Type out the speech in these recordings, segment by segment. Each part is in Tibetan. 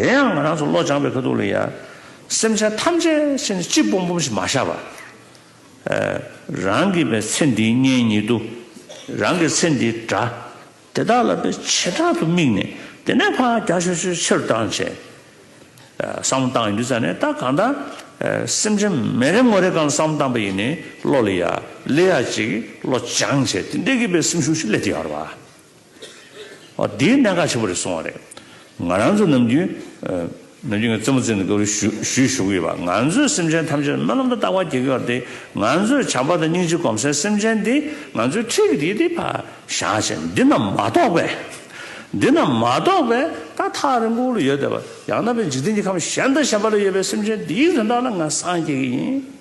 དེ་ཡང་ང་རང་ཚོ་བློ་སྦྱངས་པའི་ཁ་ཐུག་ལ་ཡང། སེམས་ཅན་ཐམས་ཅད་ཕྱི་ནས་སྤྱི་སྤོམ་སྤོམ་ཞིག་མ་བཞག་པར། རང་གི་བའི་ཚེ་འདིའི་གཉེན་ཉེ་དུ། རང་གི་ཚེ་འདིའི་དགྲ། དེ་དག་ལ་བའི་བྱེ་བྲག་ཏུ་དམིགས་ནས་དེ་ནས་ཕ་རྒྱ་ཆོས་ཆོས་ཕྱིར་བཏང་བྱས། བསམ་བཏང་ཡིན་དུས་ཙམ་ནས་ད་གང་ལྟར། སེམས་ཅན་མེ་རེ་ངོ་རེ་གང་ལ་བསམ་བཏང་པ་ཡིན་ནི་བློ་ལ་ཡ། ལས་ཡ་ཅིག་བློ་སྦྱངས་བྱས་དེ་འདྲེ་གི་བའི་སེམས་ཤུགས་ཤིག་སླེབས་ཏེ་ཡོང་བར་བ། དེའི་གནད་འགག་ཆེན་པོ་རེ་སོང་བ་རེད། ང་རང་ཚོ་ནམ་རྒྱུན། ནམ་རྒྱུན་གྱི་རྩེད་མོ་རྩེ་ནས་སྐབས་རེ་ཞུས་ཞུ་གི་ཡོད་པ། ང་ཚོའི་སེམས་ཅན་ཐམས་ཅད་སྨོན་ལམ་དང་བརྟག་པ་གྱིས་བསྐོར་ཏེ། ང་ཚོས་བྱམས་པ་དང་སྙིང་རྗེ་གོམས་སའི་སེམས་ཅན་འདི། ང་ཚོའི་འཁྲིས་ཀྱི་དེ་དེ་བར་བཞག་ཅིང་འདི་རྣམས་མ་རྟོགས་པས། འདི་རྣམས་མ་རྟོགས་པས་ད་ཐག་རིང་པོ་ལ་ཡོད་བསྡད་པ། ཡང་ན་བས་འཇིག་རྟེན་གྱི་ཁམས་གཞན་དང་གཞན་པ་ལ་ཡོད་པའི་སེམས་ཅན་འདི་ཡིག་དོན་དག་ལ་ང་སངས་རྒྱས་ཀྱི་ཡིན།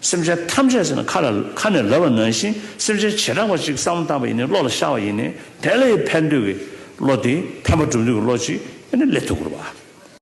སེམས་ཅན་ཐམས་ཅད་ཟེར་ན་ཁ་ལ་ཁ་ནས་ལབ་པ་ནང་བཞིན་སེམས་ཅན་བྱེ་བྲག་པ་གཅིག་བསམ་བློ་བཏང་བ་ཡིན་ནི་བློ་ལ་ཤར་བ་ཡིན་ནི་དེ་ལས་ཕན་འདོད་ཀྱི་བློ་དེ་ཕན་པ་སྒྲུབ་འདོད་ཀྱི་བློ་གཅིག་ཡིན་ནི་ལས་ཐུགས་ཁུར་བ།